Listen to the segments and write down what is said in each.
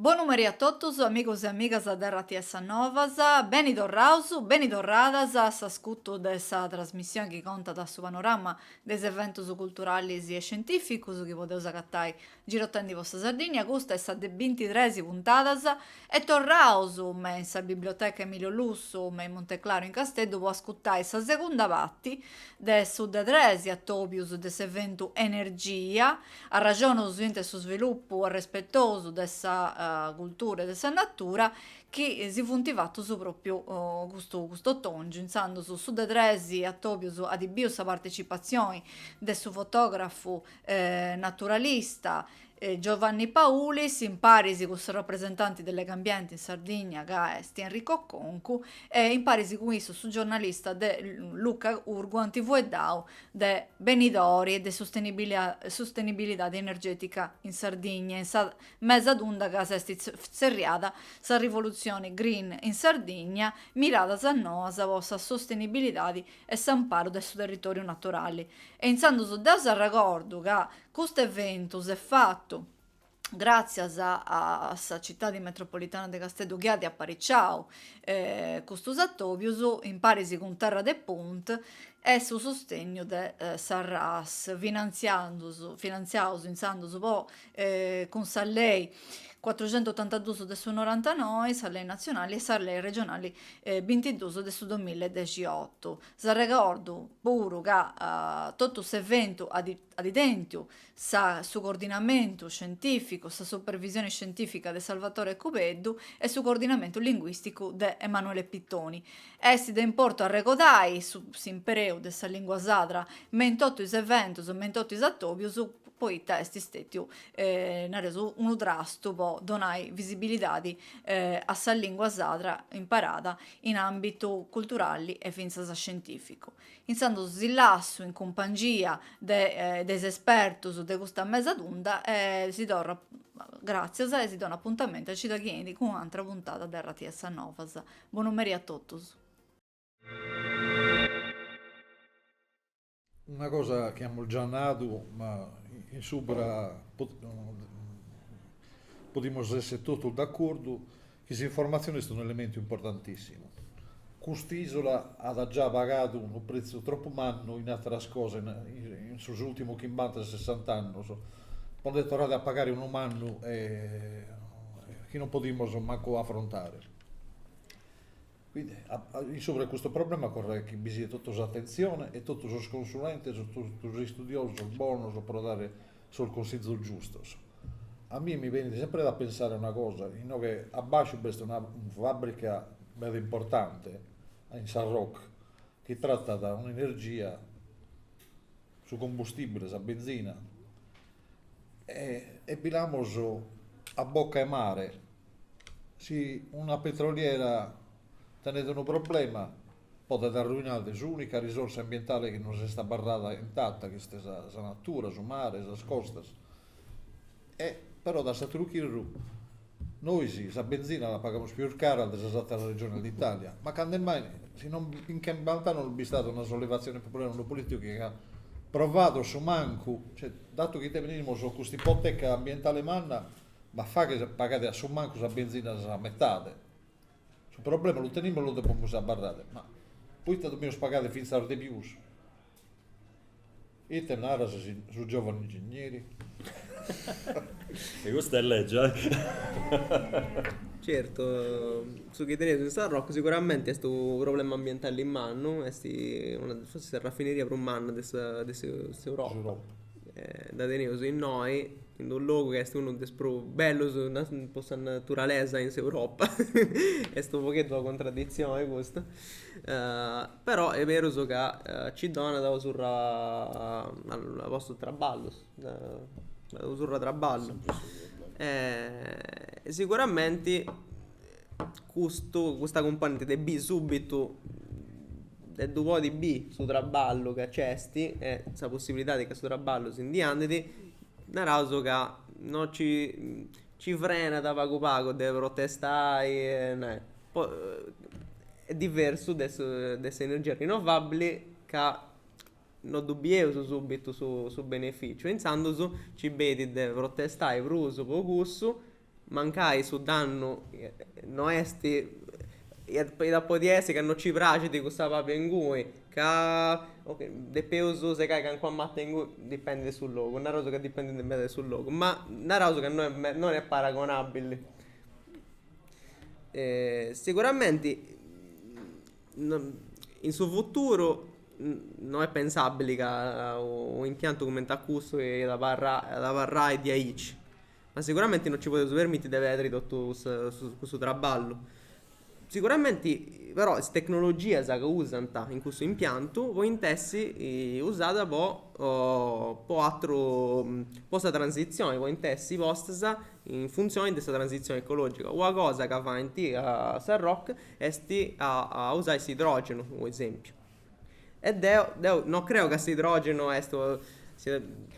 Bonu meri a totus amigos e amigas de rts Novas, beni torraus, beni torradas a s'ascutu de sa trasmissioni chi contat su panorama de is eventus culturalis e scientificus chi podeus agatai Girotendi po sa Sardìnnia, custa est sa de bintitres puntadas, e torraus me in sa Biblioteca Emilio Lussu me in Monteclaru in Casteddu po ascutai sa segunda parti de su de tres atobius de s'eventu Energia, arraxonus inti a su svilupu arrespetosu de sa cultura e de sa natura chi si funt fatus propriu custu cust'otongiu, intzandus su de tres atobius at biu sa partecipatzioni de su fotografu naturalista Giovanni Paulis, imparis cun su rapresentanti de Legambienti in Sardigna ca est Enrico Concu e imparis cun issu su giornalista de Luca Urgu ant fueddau de benidori e de sustenibilidade energètica in Sardigna in sa mesa tunda ca s'est tzerriada sa rivolutzione green in Sardigna, miradas noas po sa sustenibilidadi e s'amparu de su territòriu naturali e intzandus deu si arregordu ca custu eventu s'est fatu gràtzias a sa citadi metropolitana de Casteddu chi at apariciau custus atòbius imparis cun Terra de Punt e su sustegnu de sa RAS finantziandus finantziaus intzandus po cun sa Lei cuatruxentuotantaduus de su norantanoi, sa Lei natzionali e sa Lei regionali bintiduus de su domilla e dexiotu. Si arregordu puru ca totu s'eventu at tentu sa su coordinamentu scientificu, sa supervisione scientifica de Salvatore Cubeddu e su coordinamentu linguisticu de Emanuele Pittoni, Est de importu arregordai su s'impreu de sa lìngua sadra me in totu is eventus, me in totu is atòbius, poita est stètiu, nareus, unu trastu po donai visibilidadi a sa lìngua sadra imperada in àmbitu culturali e fintzas scientìficu. Intzandus si lassu in cumpangia de de is espertus de custa mesa tunda e si torru gràtzias e si donu apuntamentu a cida chi 'enit cun una àtera puntada de RTS Novas. Bonu meri a totus. Una cosa chi amus già nadu, ma in subra podimus esser totus d'acordu, chi s'informatzioni est un'elementu importantissimu. Cust'isula at già pagadu unu prezzu tropu mannu in ateras cosas in sos ultimus chimbanta e sessanta annus, po nde torrare a pagare unu mannu e chi non podimus mancu afrontare. In subra 'e custu problema ocorret chi bi siat totu s'atentzione e totu sos consulentes, totu sos istudiosos bonos pro dare sos cunsizos giustos. A mie mi benit sempre da pensare una cosa, inoghe abbasciu b'est una fabbrica meda importante in Sarroch chi tratat un'energia, su combustibile, sa benzina, e bi l'amus a bocca 'e mare, si una petroliera tenet unu problema podet arruinare s'unica risorsa ambientale chi nos est abarrada intata, chi est sa natura, su mare, sas costas E però da s'àteru chirru, nois sa benzina la pagamus pius cara de sas àteras regiones de Itàlia, ma cando mai, si non in chimbant'annos non b'est istada una sollevatzione populare, unu polìticu chi aiat provadu su mancu, cioè datu chi tenimus custa ipoteca ambientale manna, ma faghet pagare a su mancu sa benzina sa metade. Su problema lu tenimus e lu depimus abarrare, ma poite depimus pagare fintzas de pius Ite narat su giovanu ingigneri? E custa est lègia, eh! Certu, su chi teneus in Sarroch siguramenti est unu problema ambientali mannu, est una, fortzis sa rafineria prus manna de sa de s'Europa. Dda teneus innoi, in d'unu logu chi est unu de is prus bellus po sa naturalesa in s'Europa, est u' pogheddu una cuntraditzioni custa Però est berus ca ci donat una surra 'e postus 'e traballu, una surra 'e traballu. E siguramenti custu custa cumponenti de biri subbitu, de ddu podi biri su traballu ca nc'esti e sa possibilidadi ca su traballu si ndi andidi, naraus ca no ci Ci frenat pagu pagu de protestai e nai. Poi est diversu de su de s'energia rinnovabili ca no ddu bieus subitu su su beneficiu e intzandus ci benit de protestai prus po cussu, mancai su dannu no esti iat iat podi essi ca no ci praxit cussa pala ingui Ca depeus segai calincuna mata inguni, dipendit de su logu, naraus ca dipendit meda de su logu, ma naraus ca no est non est paragonabili. siguramenti in su futuru no est pensabili ca u' impiantu cumenti a custu iat abarrai iat abarrai diaici Ma siguramenti no ci podeus permiti de pedri totu cussu cussu traballu. Siguramenti però is tecnologias ca usant in cussu impiantu podint essi usadas po po atru po sa transitzioni, podint essi postas in funtzioni de sa transitzioni ecologica. Una cosa ca faint a sa Roc esti a usai s'idrogenu po esempiu E deu, deu no creu ca s'idrògenu est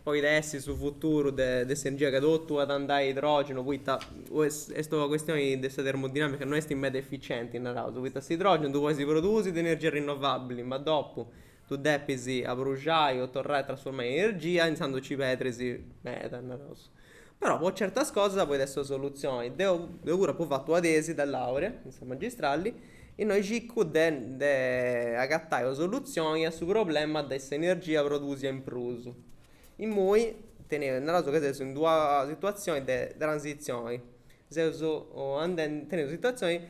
podit essi su futuru de de s'energia, ca totu at andai a idrògenu poita est una custioni de sa termodinàmica, no est meda efficienti, naraus, poita s'idrògenu ddu podis produsi de energia rinnovabili, ma dopu ddu depis abruxai o torrai a trasfurmai in energia, intzandus nci pedris meda, naraus. Però po certas cosas podit essi sa soluzioni. Deu deu puru apu fatu una tesi de laurea in sa magistrali innui circu de de agattai una soluzioni a su problema de s'energia produsia in prus. Immoi teneus, naraus ca seus in d'una situazioni de transizioni, seus andendi, teneus una situazioni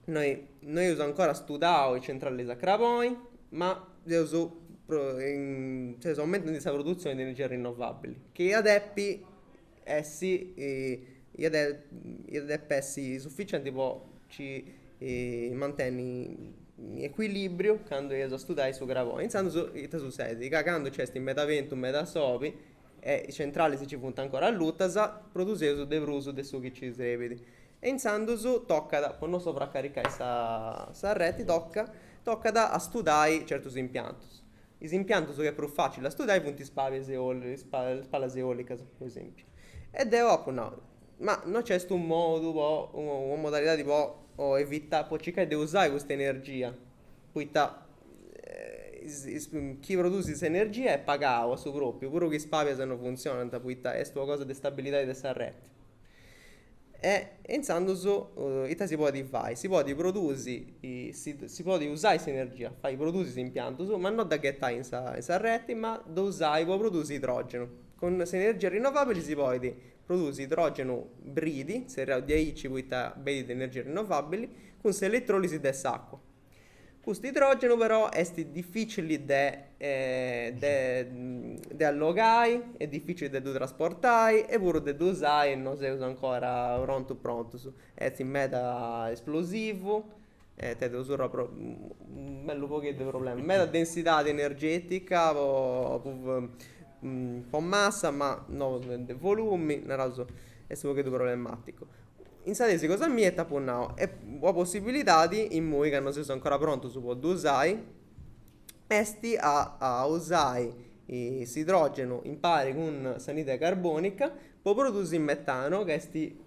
No eus ancora studau is centralis a craboni, ma seus seus aumentendi sa produtzioni de energia rinnovabili, chi iat depi essi iat iat depi essi sufficienti po nci mantenni in ecuilibriu candu eus a studai su craboni, intzandus ita sussedit, ca candu nc'est meda bentu meda soli e is centralis nci funt ancora allutas, produseus de prus de su chi nci serbit. E intzandus tocat, po no sovracaricai sa reti, tocat tocat a studai certus impiantus. Is impiantus chi est prus facili a studai funt is palas eolicas, is palas eolicas po esempiu. E deu apu nau, ma no nc'est u' modu po, una modalidadi po evitai, po circai de usai custa energia Poita chi produsit s'energia est pagau su pròpiu, puru chi is palas no funtzionant, poita est una cosa de stabilidadi de sa reti. E intzandus ita si podit fai, si podit produsi, si podit usai s'energia, fai produsi is impiantus, ma no dda ghetai in sa in sa reti, ma dda usai po produsi idrògenu. Cun s'energia rinnovabili si podit produsi idrògenu bridi, tzerriau diaici poita benit de energia rinnovabili, cun s'eletròlisi de s'acua. Custu idrògenu però est difìcili de de allogai, est difìcili de ddu trasportai e puru de ddu usai non seus ancora prontus prontus. Est meda esplosivu e tenit unu sciurru, u' bellu pagheddu 'e problemas. Meda densidadi energetica po po massa ma no de volumi, naraus est u' pagheddu problematicu. Intzandus sa tesi cosa mia, e t'apu nau, est una possibilidadi, immui ca non seus ancora prontus po ddu usai, esti a a usai s'idrògenu impari cun s'anidride carbonica po produsi metanu ca esti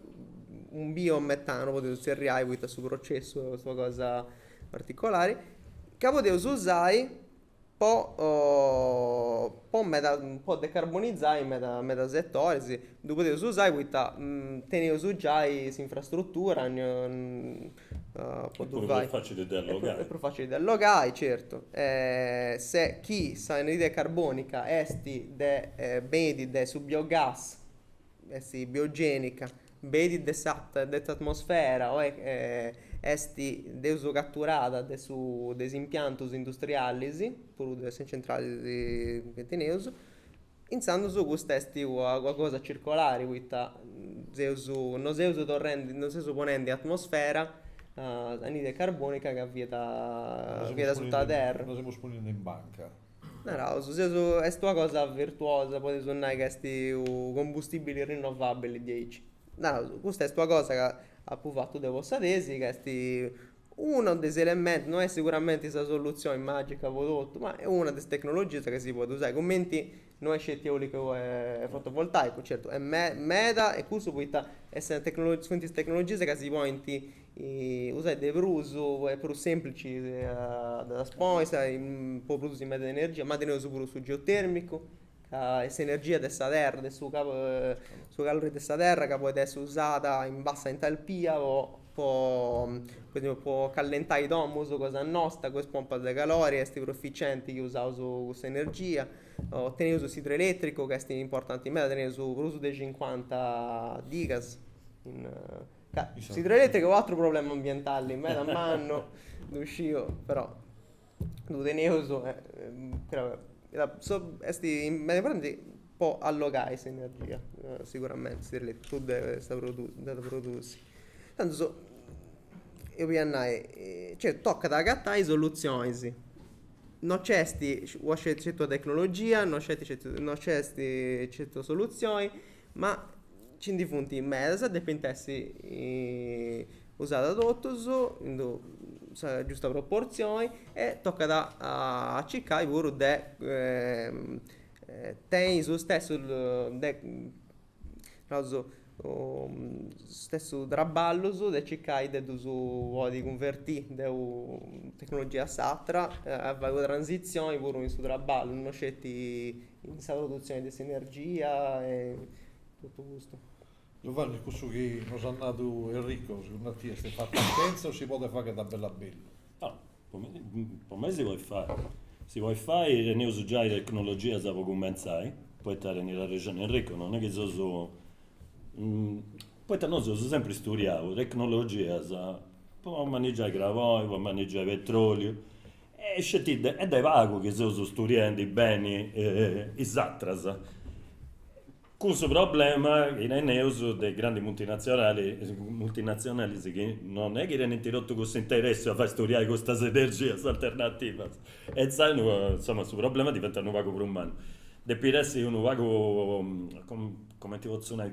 u' biometanu podeus zerriai poita su processu est ua cosa particolari, ca podeus usai po po meda po decarbonizai meda meda setores ddu podeus usai poita teneus giai s'infrastrutura po ddu fai. Est prus facili de allogai. Est prus facili de allogai certu e se chi s'anidride carbonica est de benit de su biogas Est biogènica, benit de s'a de s'atmosfera o est deus caturada de su de is impiantus industrialis, puru de is centralis chi teneus, intzandus custa est ua ua cosa circolari poita seus non seus torrendi non seus ponendi in atmosfera anidride carbonica ca fiat fiat asuta 'e terra. Non seus ponendi in banca. Naraus, seus, est una cosa virtuosa, podeus nai ca est u' combustibili rinnovabili diaici. Naraus, custa est una cosa ca apu fatu deu po sa tesi, ca est unu de is elementus, no est siguramenti sa soluzioni magica po totu, ma est una de is tecnologias ca si podit usai, cumenti no est sceti eolicu e fotovoltaicu, certu est meda e custu poita est sa tecnologia, funt is tecnologias ca si podint Usai de prus, est prus sèmplici a ddas ponni, po produsi meda energia, ma teneus puru su geotèrmicu, ca est s'energia de sa terra, de su su calori de sa terra ca podit essi usada in bassa entalpia po po callentai domus cosa nosta, cun is pompas de calori est prus eficienti chi usaus cussa energia. O teneus s'idroelètricu ca est importanti meda, teneus prus de cincuanta digas in Ca si ddu ddoi est unu atru problema ambientali meda mannu ddu sciu però ddu teneus e est meda importanti po allogai s'energia siguramente si tradetat prus de sa de produsi candu so eus a nai cioè tocat a agatai soluzionis no c'est una sceti tecnologia no c'est no c'est sceti una soluzioni Ma nci ndi funt medas e depint essi usadas totus in d'u sa giusta proportzioni e tocat a circai puru de tenni su stessu de naraus is stessus traballus de circai de ddus podi cunvertì de una tecnologia a s'atra e fai una transitzioni puru in su traballu no sceti in sa produtzione de s'energia e totu custu. Giovanni, cussu chi nos at nadu Enrico, segundu a tie est fantascièntzia o si podet fagher da bellu a bellu? Po mei si podit fai, si podit fai, teneus giai tecnologias po cumentzai, poita tenit arrexoni Enrico, non est chi seus, poita nosu eus sempri isturiau tecnologias po manigiai craboni, po manigiai petroliu, Est sceti de est de pagu chi seus studiendi beni is atras, cun su problema chi teneus de is grandis multinazionali, multinazionalis chi non est chi tenint totu cussu interessu a fai studiai custas energias alternativas e insaras no, insoma su problema diventat unu pagu prus mannu. Depit essi unu pagu, cumenti potzu nai,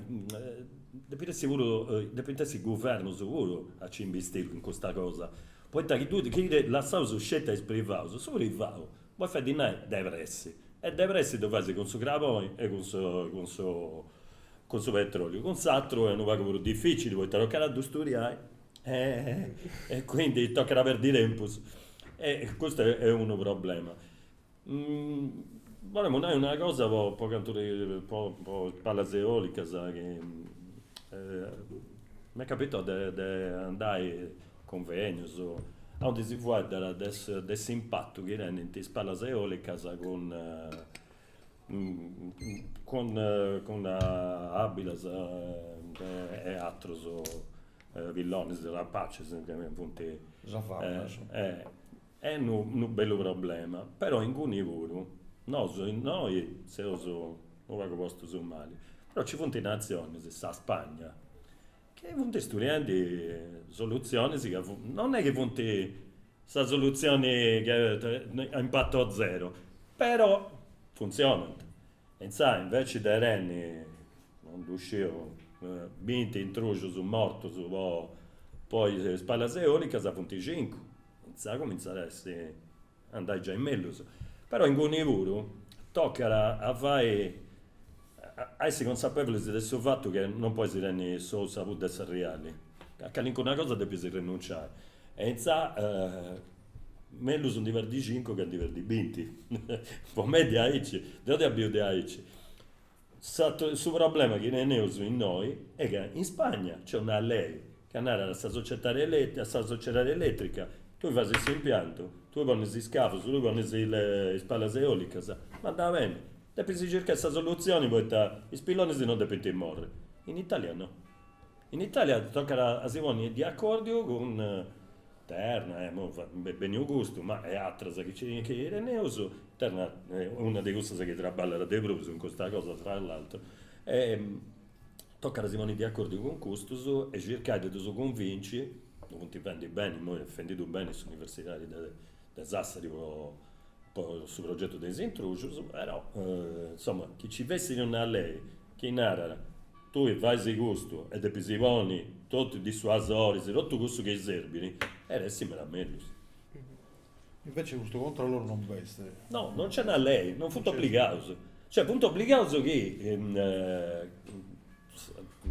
depit essi puru, depint essi is guvernus puru a nci imbistiri in custa cosa Poita chi tui chi ddu lassaus sceti a is privaus, su privau bolit fai dinai de pressi e de pressi ddu fais cun su craboni e cun su cun su cun su petroliu, cun s'atru est unu pagu prus dificili poita tocat a ddu sturiai e quindi tocat a perdi tempus e custu est unu problema. Bolemus nai una cosa po po cantu po is palas eolicas chi m'est capitau de de andai a cunvegnus aundi si fueddàt de su de s'impatu chi tenint is palas eolicas cun cun cun abilas e atrus pillonis, rapacis nci funt. Est unu bellu problema, però inguni puru nosu innoi seus unu pagu postus mali, però nci funt natzionis, sa Spagna, chi funt istudiendi solutzionis ca funt, non est chi funt sa solutzioni a impatto zero, però funtzionant. E insaras inveci de tenni, non ddu sciu, binti intruxus mortus po is palas eolicas funt cincu Intzà cumintzat a essi a andai giai mellus. Però inguni puru tocat a fai, a essi consapevulis de su fatu che non podis tenni s'ou, sa pudda e s'arriali, a calincuna cosa depis arrinunciai. E intzà mellus ndi perdi cincu che a ndi perdi binti. Po mei diaici, deu dda biu diaici. Su problema chi teneus innoi est ca in Spagna nc'est una lei ca narat a sa societadi eletrica, tui fais s'impiantu, tui ponis is cavus, tui ponis is palas eolicas, ma andat beni, depis circai sa soluzioni poita is pillonis non depint morri. In Italia no. In Italia tocat a si ponni de acordiu cun Terna, m'est benniu custu, ma e atras chi nci teneus, Terna est una de cussas chi traballat de prus in custa cosa tra l'altro, tocat a si ponni de acordiu cun custus e circai de ddus cunvinci, ddu funt fendi beni, imoi est fendiddu beni s'universidadi de Sassari po su progetu de is intrujus, però insoma chi nci fessit una lei chi narat Tui faisi custu e depisi poni totu is dissuasoris, totu cussu chi serbit e iat essi meda mellus. Invece custu controllu non nc'est. No, non nc'est una lei, non funt obligaus. Cioè funt obligaus chi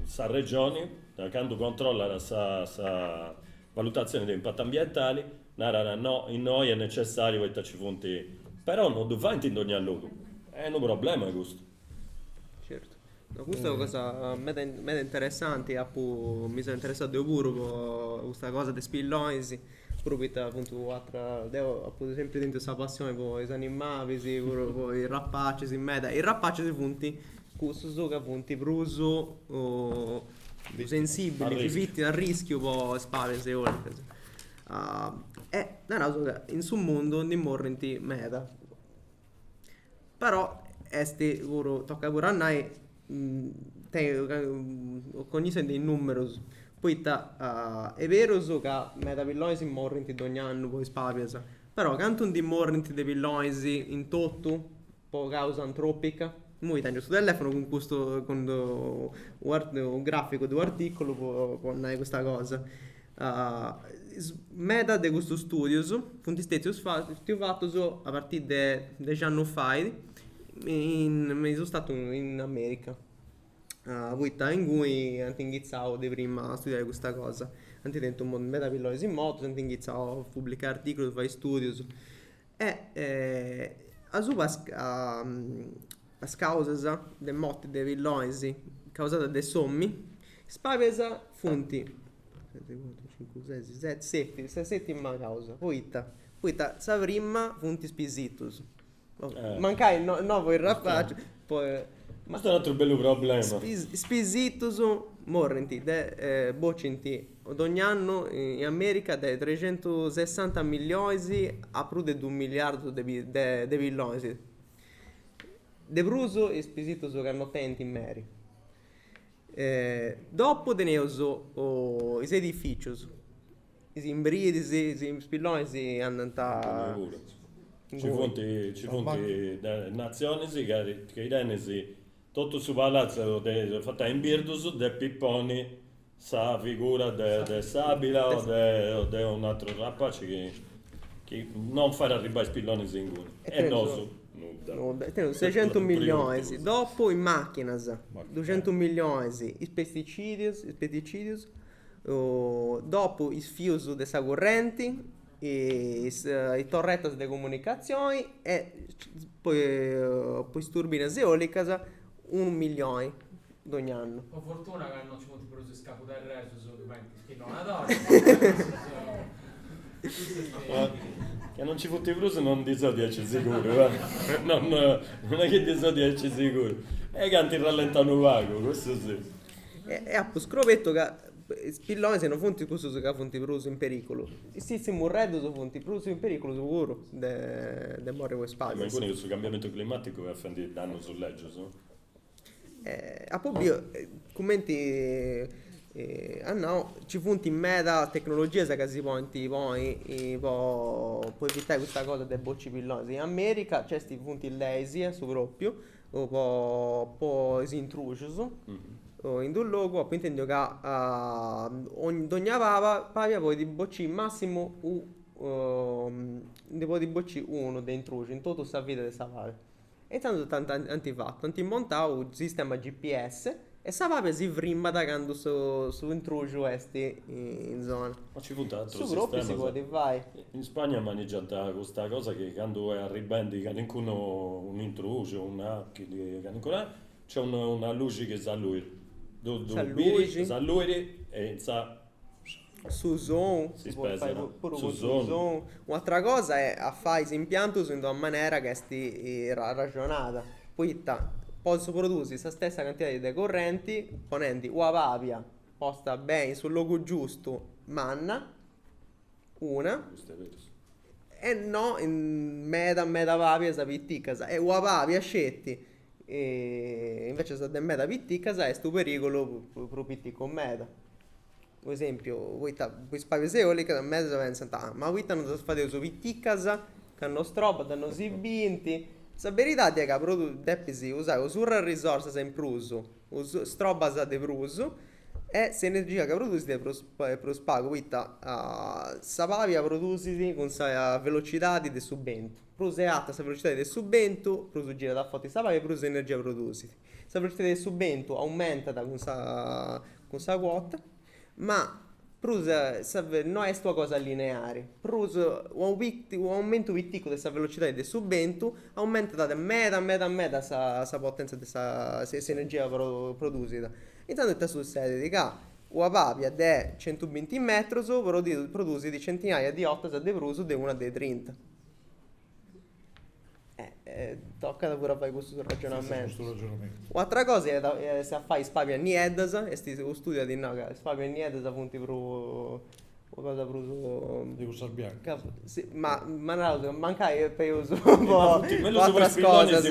sa Regioni, candu controllat sa valutatzioni de impatu ambientali, narat, no, innoi est necessàriu poita nci funt, però non ddu faint in dogna logu. Est unu problema custu. Certu. No, custa è una cosa meda meda interessanti, apu mi seu interessau deu puru po custa cosa de is pillonis, puru poita funt u' atera, deu apu sempri tentu sa passioni po is animalis, puru po is rapacis meda, is rapacis funt cussus ca funt prus sensibili, funt a rischiu po is palas eolicas. E naraus ca in su mundu ndi morrint meda, Però est puru, tocat puru a nai, cognitzioni de is nùmerus, poita est berus ca meda pillonis morrint dogni annu po is palas, però cantu ndi morrint de pillonis in totu po càusa antròpica? Imui tèngiu custu telèfonu cun custu cun u arti u gràficu de u' artìculu po nai custa cosa Meda de custus stùdius funt stètius fatus a partiri de dexi annus fait me is Istadus in America poita inguni ant inghitzau de prima a studiai custa cosa. Ant tentu meda pillonis mortus, ant inghitzau a publicai artìculus, fai stùdius E a su is causas de morti de pillonis causadas de s'omini, is palas funt, seti cuatru cincu sesi seti, seti, sa setima causa, poita, poita sa prima funt is pisitus. Mancai no po is rapacis po. Custu est u' ateru bellu problema. Is pisitus morrint de, bocint Dogn'annu in Amèrica de trecentusessanta millionis a prus de duus miliardus de pillonis, de prus is pisitus chi no tenint meri. Dopu teneus is edifìcius, is imbirdis, is pillonis andant, nci funt de natzionis chi tenis totu su palatzu fatu in birdus ddis ponint Sa figura de s'abila o de un'atru rapaci chi non fait arribai is pillonis inguni. E nosu nudda. Nudda. Teneus secentus millionis, dopu is machinas, duxentus millionis is pesticidius, is pesticidius, dopu is fius de sa currenti, is torretas de comunicazioni e po is turbinas eolicas unu millioni. dogn'annu. Po fortuna ca no ci funt prus is cabuderresus chi faint is pillonadoris. Ca no nci funt prus no ndi so diaici siguru, no non est chi ndi so diaici siguru. E ca ant rallentau unu pagu, cussu si. E apu scrobetu ca is pillonis no funt cussus ca funt prus in periculu. Is tzintzimurreddus funt prus in periculu puru de morri po is palas. Ma inguni cussu cambiamentu climaticu est fendi dannus legius. Apo biu, cumenti at nau, nci funt meda tecnologias ca si podint ponni po evitai custa cosa de bocci pillonis. In America nc'est, funt is leis a su propriu po po is intrùcius. In d'unu logu apu intendiu ca dogna pala palia podit bocci massimu ndi podit bocci unu de intrùciu in totu sa vida de sa palia. E tando tando ant fatu, ant montau su sistema GPS e sa palia si frimmat candu su intruxu est in zona. Ma nci funt aterus sistemas? Su propriu si podit fai. In Spagna manigiant custa cosa chi candu est arribendi calincunu, un'intruxu o un'achili, calincuna, nc'est una luxi chi s'alluit. S'alluit. S'alluit e in sa su sonu, si podit fai puru cun su sonu, un'atra cosa est a fai is impiantus in d'una manera ca est arraxonada, poita potzu produsi sa stessa cantidadi de currenti ponendi una palia posta beni in su logu giustu, manna, una, e no meda meda palias piticas e una palia sceti Invece sas de meda piticas est unu perigulu pro piticos meda, pro esempiu poita pro is pabias eolicas medas pensant, ma poita non ddas fadeus piticas ca no strobant non si bint, sa beridadi est ca pro depis usai u' surr'e risorsas in prus o istrobas de prus e s'energia ca produsit est prus est prus pagu poita sa pabia produsit cun sa velocidadi de su bentu Prus est arta sa velocidade de su bentu, prus girat a forti sa pabia e prus energia produsit. Sa velocidade de su bentu aumentat cun sa cun sa cuota, ma prus sa no est una cosa lineare, prus unu pitiu un'aumentu piticcu de sa velocidade de su bentu aumentat meda meda meda sa sa potenzia de sa s'energia pro produsida. Intzandus ite sussedet, ca una pabia de centubinti metrus prodiu produsit centinaia di 'ortas de prus de una de trinta. Eh, eh, tocat puru a fai custu ragionamentu. U' atra cosa iat a essi a fai is pabias nieddas, est u' studiu at nau ca is pabias nieddas funt prus, una cosa prus. De cussas biancas. Si, ma ma naraus ca mancai est peus po is atras cosas.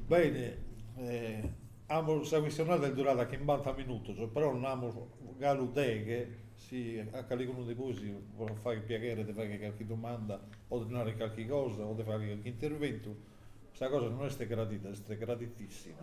Bene, amus, sa chistionada est durada chimbanta minutos, però nd'amus galu deghe, si a caligunu de bois podet fagher piaghere de fagher carchi domanda o de narrer carchi cosa o de fagher carchi interventu, sa cosa non est gradida, est graditissima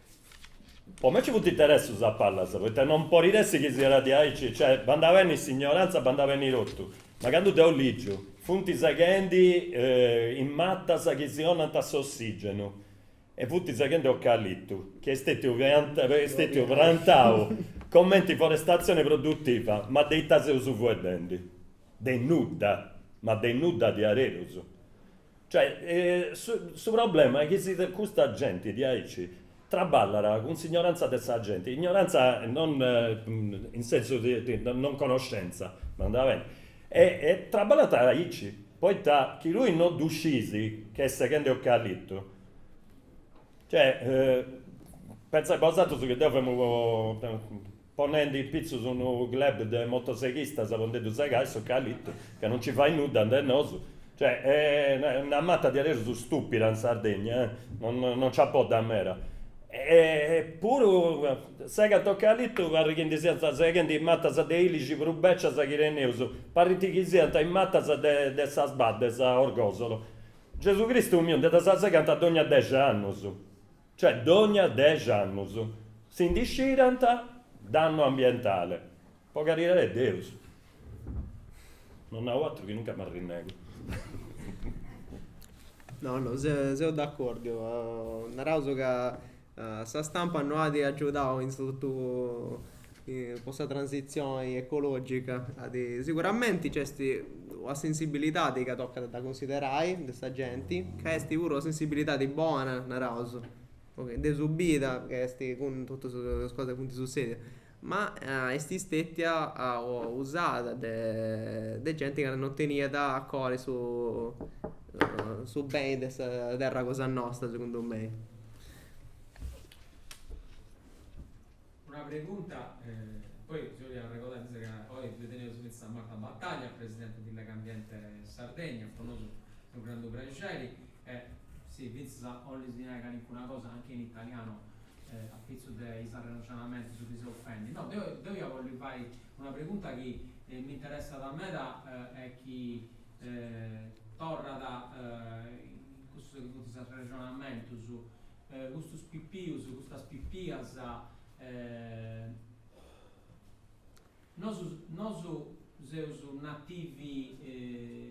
Po me ci funt interessus a pallas, poita non podit essi chi siat diaici, cioè bandat beni s'ignoranza, bandat beni totu, ma candu deu ligiu, funt seghendi is matas chi si 'onant s'ossigenu, e funt seghendi ocalitu, chi est stetiu est stetiu prantau comenti forestatzioni produtiva, ma de ita seus fueddendi, de nudda, ma de nudda diaderus. Cioè, su problema est chi si custa genti diaici traballat cun s'ignorantza de sa genti, ignorantza non in sensu de non conoscenza, bandat beni, e traballant aici, poita chi tui non ddu sciis chi est seghende ocalitu, cioè, pentzai bosatrus chi deu femu ponende in pitzus unu club de motoseghistas po nde ddu segai s'ocalitu, ca non nci fait nudda and'e nosu, cioè una mata diaderus stupida in Sardegna, non nci apoddat meda, e puru segant ocalitu, parrit chi ndi siant seghendi matas de ilixi prus becias chi teneus, parrit chi siant is matas de Sas Baddes a Orgosolo, Gesù Cristu miu, nde ddas segant dogna dexi annus. cioè dogna dexi annus si ndi scirant dannu ambientale, po caridadi 'e Deus, non nau atru chi nunca m'arrinnegu. No seu d'acordiu, naraus ca sa stampa no at agiudau in su totu po sa transitzioni ecològica siguramenti nc'est una sensibilidadi ca tocat a dda cunsiderai de sa genti ca est puru una sensibilidadi bona, naraus, de sùbitu ca est cun totus is cosas chi funt sussèdias ma est stètia usada de de genti ca non teniat a coru su su beni de sa terra cosa nostra, segundu mei Una pregunta, poi si 'ollu arregodai fintzas ca oi teneus fintzas Marta Battaglia, presidente di Legambiente Sardegna, po nosu unu grandu prexeri e si fintzas 'olli si nai calincuna cosa anche in italiano a pitzu de is arrexonamentus chi seus fendi. No, deu deu ia 'olli fai una pregunta chi m'interessat meda e chi torrat in cussu chi funt is arrexonamentus custus pipius, custas pipias, nosu seus nativi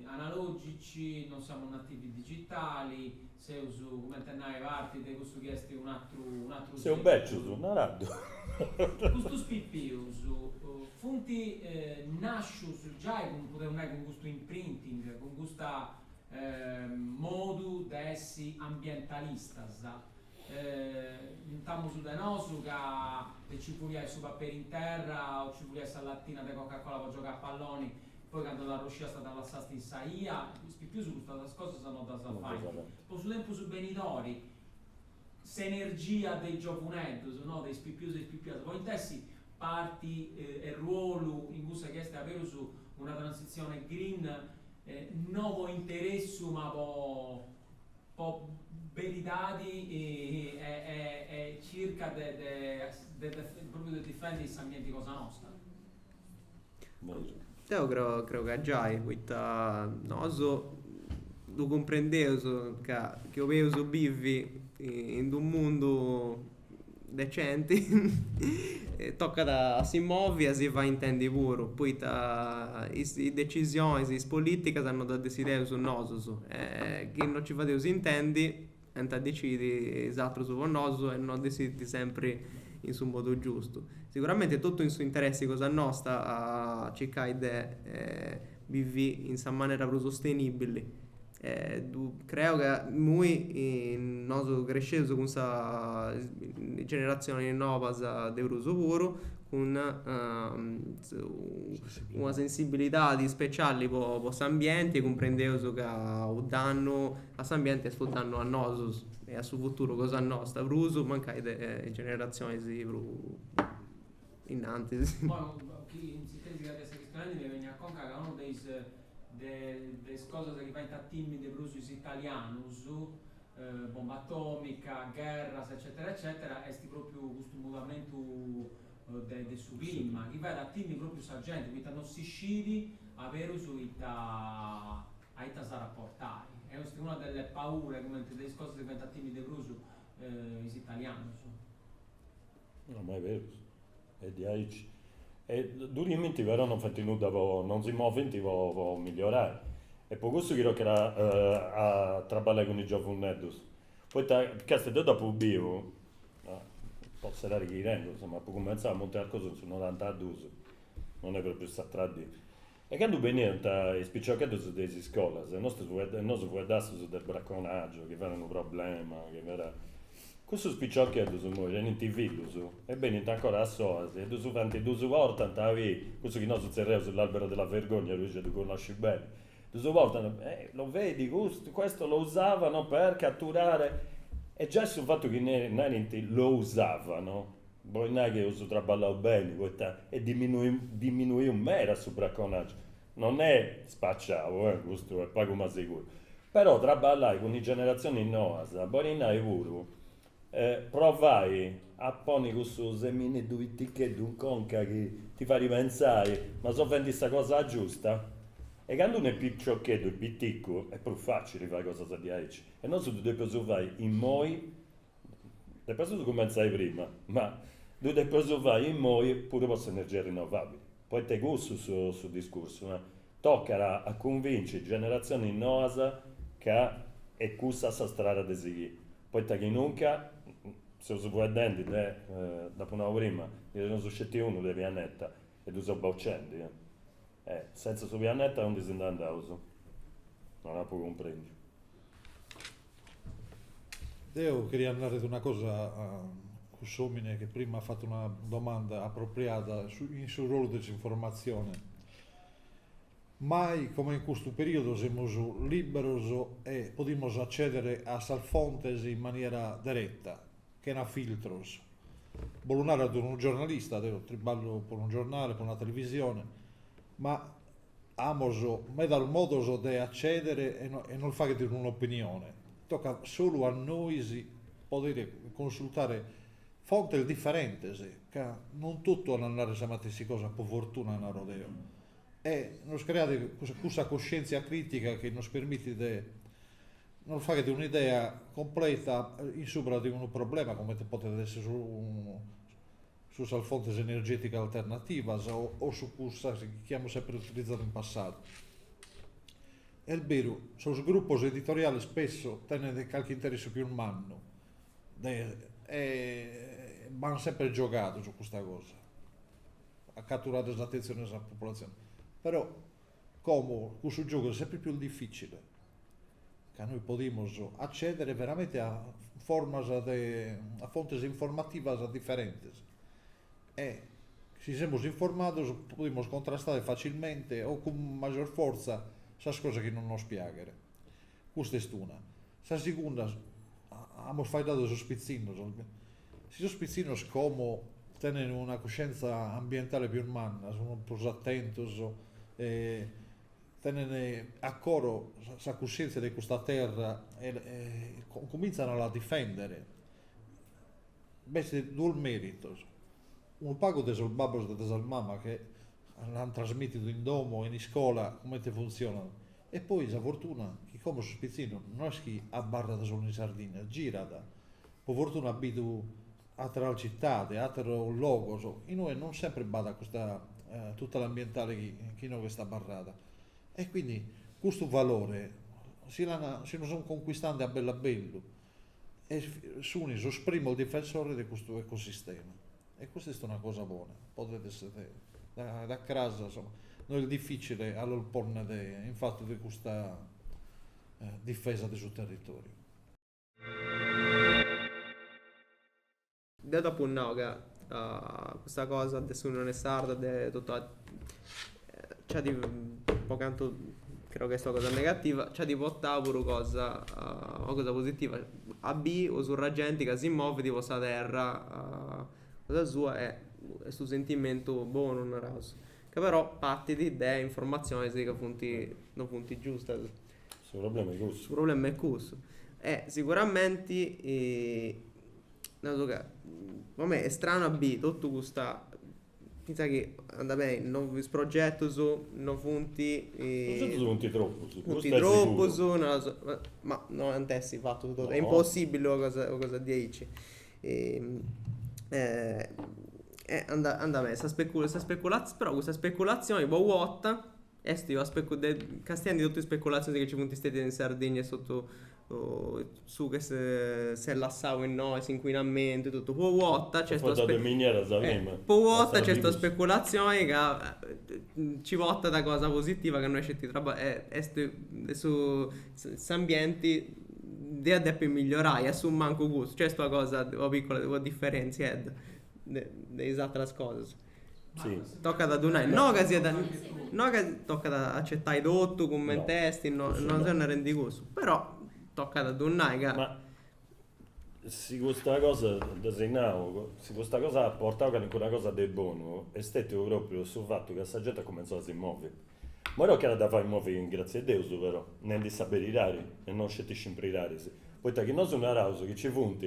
analògici, no seus nativi digitali, seus, cumenti a nai, parti de cussu chi est un'atru seculu. Seus bècius, nara·ddu. Custus pipius funt nàscius giai, podeus nai, cun custu imprinting, cun custa modu de essi ambientalistas, intamus de nosu ca nci fuliàt su paperi in terra o nci fuliàt sa latina de cocacola po giogai a palloni, poi candu t'arrosciasta dda lassasta in sa 'ia, is pipius custas cosas no ddas faint. Po su tempus benidori s'energia de is giovunedus, no, de is pipius e is pipias podint essi parti e ruolu in cussa chi est aberus una transitzioni green No po interessu ma po po beridadi e circai de de de propriu de difendi s'ambienti cosa nosta. Bosu. Deu creu creu ca giai poita nosu ddu cumprendeus ca chi 'oleus bivi in d'unu mundu decenti tocat a si movi a si fai intendi puru poita is decisionis is politigas no ddas decideus nosus e chi no ci fadeus intendi ant a decidi is atrus po nosu e no decidint sempri in su modu giustu siguramenti est totu in su interessi cosa nosta a circai de bivi in sa manera prus sostenibili E ddu creo ca immoi nosu cresceus cun is generatzionis nobas de prus puru, cun una sensibilidadi speciali po s'ambienti e cumprendeus ca u' dannu a s'ambienti est u' dannu a nosu e a su futuru cosa nosta prus mancai de is generazionis prus innantis. de is cosas chi faint a timmi de prus is italianus, bomba atòmica, gherras eccètera eccètera, est pròpriu custu mudamentu de de su clima, chi fait a timmi pròpriu sa genti, poita non si scit aberus ita ita s'at a portai. Est una delle paure, cumenti de is cosas chi faint a timmi de prus is italianus. No, ma est berus, est diaici. E ddu timint però non fainti nudda po, non si movinti po po migliorai. Est po cussu chi tocat a trabballai cun is giovunneddus. Poita càstia deu dd'apu biu, po serrari chi tengu, insoma, apu cummentzau a Monti Arcosu in su norantaduus, non est propriu s'atra dì E candu beniant is piciochedus de is iscolas, nosu nosu fueddaus de braconàgiu, chi fiat unu problema, chi fiat. Cussus piciochedus immoi tenint fillus e benint ancora a s'oasi e ddus faint, ddus portant a biri, cussu chi nosu zerriaus l'albero della vergogna, Luigi ddu connosci beni, ddus portant, lo vedi questo, questo lo usavano per catturare, e giai su fatu chi narint lo usavano Bolit nai chi eus traballau beni poita est diminuiu meda su braconàgiu, non est spaciau, custu est pagu ma seguru, però traballai cun is generazionis noas, bolit nai puru provai a ponni cussu semineddu piticheddu in conca chi ti fait pentzai ma seu fendi sa cosa giusta, e candu unu est piciocheddu e piticu est prus facili fai cosas diaici, e nosu ddu depeus fai immoi Depestus cumentzai prima, ma ddu depeus fai immoi puru po s'energia rinnovabili, poita est cussu su discursu, tocat a cunvinci generatzioni noas ca est cussa sa strada de sighì, poita chi nunca seus fueddendi de, dd'apu nau prima, ndi teneus sceti unu de pianeta, E ddu seus bocendi, eh! E, sentza su pianeta, aundi si nd'andaus? Non apu cumprendiu. Deo cheria nàrrere una cosa a cuss'omine che prima at fattu una domanda appropriada in su ruolu de s'informatzione. Mai comente in custu periodu semus liberos e podimos accedere a sas fontes in maniera deretta. chena filtros, bolet narrer de unu giornalista, deo triballo po unu giornale, po una televisione, ma amos medas modos de acceder e nos fagher un'opinione, tocat solu a nois poder consultare fontes differentes, ca non totus ant a narrer sa matessi cosa, po fortuna naro deo, e nos creare cussa coscientzia critica chi nos permitit de Nos fagher un'idea completa in subra de unu problema comente podet esser su su sas fontes energèticas alternativas o su cussas chi amus sempre utilizadu in passadu. Est beru, sos grupos editoriales spesso tenent calchi interessu pius mannu de e b'an sempre giogadu subra custa cosa, a catturare s'attenzione 'e sa popolazione, però como cussu giogu est sempre pius difficile ca nois podimus accedere veramente a formas de a fontes informativas differentes e si semus informados podimus contrastare facilmente o cun major fortza sas cosas chi non nos piaghen. Custa est una. Sa segunda, amus faeddadu de sos pitzinnos, si sos pitzinnos como tenen una cuscienza ambientale pius manna, sun prus attentos e Tenent a coro sa cussièntzia de custa terra e cumìntzant a la difèndere. B'est duos mèritos, unu pagu de sos babbos e de sas mamas chi l'ant trasmìtidu in domo e in iscola comente funtzionat e poi sa fortuna chi como sos pitzinnos no est chi abarrant solu in Sardigna, girant, po fortuna ant bidu ateras citades, ateros logos, in ue non sempre b'at custa tutela ambientale chi chi inoghe est abarrada e quindi custu valore si l'an si lu sun conquistende a bellu a bellu e sun sos primos difensores de custu ecosistema e custa est una cosa bona, podet esser da cras insomma no est difficile a los ponner in fattu de custa difesa de su territoriu. Deu t'apu nau ca custa cosa de s'Unione Sarda, de totu, nci at, po cantu creu ca est una cosa negativa, nci at portau puru cosa, una cosa positiva, a biri una surr'e genti ca si movit po sa terra cosa sua e est unu sentimentu bonu, naraus. Ca però partit de informatzionis ca funt, non funt giustas. Su problema est cussu. Su problema est cussu. E siguramenti naru ca po mei est stranu a biri totu custa finzas chi andat beni no is progetus no funt. Is progetus funt tropus. Funt tropus, naras, ma no ant essi fatus totus. Est impossibili una cosa una cosa diaici. andat andat beni sa specu sa speculatz però custa speculazioni po u' 'orta Est una specu castiendi totu is speculatzioni chi nci funt stetias in Sardigna e totu su chi s'est lassau innoi, s'incuinamentu e totu. Po u' 'orta nc'est una specu. Po u' 'orta nc'est una speculatzioni ca nci portat cosa positiva ca no est sceti traba. Est de su, s'ambienti dd'eus a depi migliorai, assumancu custu. Nc'est una cosa, una piccola, una diferentziedda de is ateras cosas. Tocat a ddu nai, no ca siat, no ca, tocat a acettai totu cumenti est, no no seu narendi cussu, però tocat a ddu nai ca. Ma si custa cosa, dda si nau, si custa cosa at portau calincuna cosa de bonu est stètiu pròpriu su fatu ca sa genti at cumenzau a si movi. Imoi tocat a dda fai movi in gratzia'e Deus però, nendi sa berirari e no sceti scimpriraris, poita chi nosu naraus chi nci funt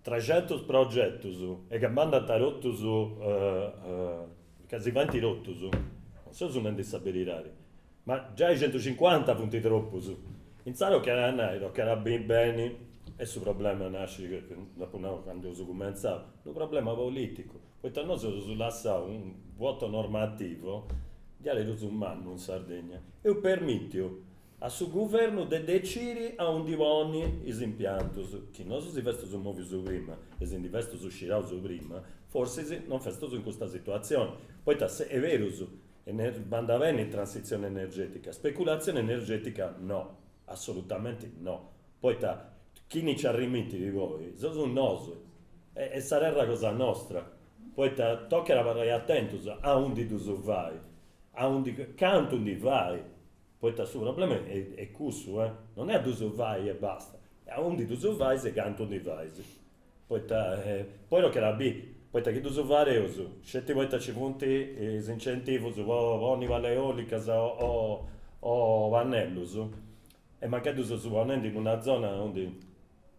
Trexentus progetus e ca bandant totus ca si faint totus, non seus nendi sa berirari, ma giai centucincuanta funt tropus, intzaras tocat a nai, tocat a biri beni, e su problema nascit, dd'apu nau candu eus cumentzau, unu problema politicu, poita nosu eus lassau unu vuoto normativo diaderus mannu in Sardegna, eus permitiu A su Guvernu de deciri a undi ponni is impiantus, chi nosu si festus movius prima e si ndi festus sciraus prima, forsis non festus in custa situatzioni, poita est berus, bandat beni transitzioni energetica, speculatzioni energetica no, assolutamenti no, poita chini nci arrimitit poi seus nosu, est sa terra cosa nostra, poita tocat abarrai atentus a undi ddus fai, a undi, cantu ndi fai Poita su problema est cussu, non est a ddus fai e basta, est a undi ddus fais e cantu ndi fais. Poita, poi tocat a biri, poita chi ddus fareus sceti poita nci funt is incentivus po ponni palas eòlicas o pannellus e mancai ddus seus ponendi in una zona undi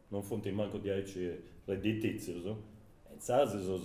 non funt mancu diaici redditìtzius e insaras seus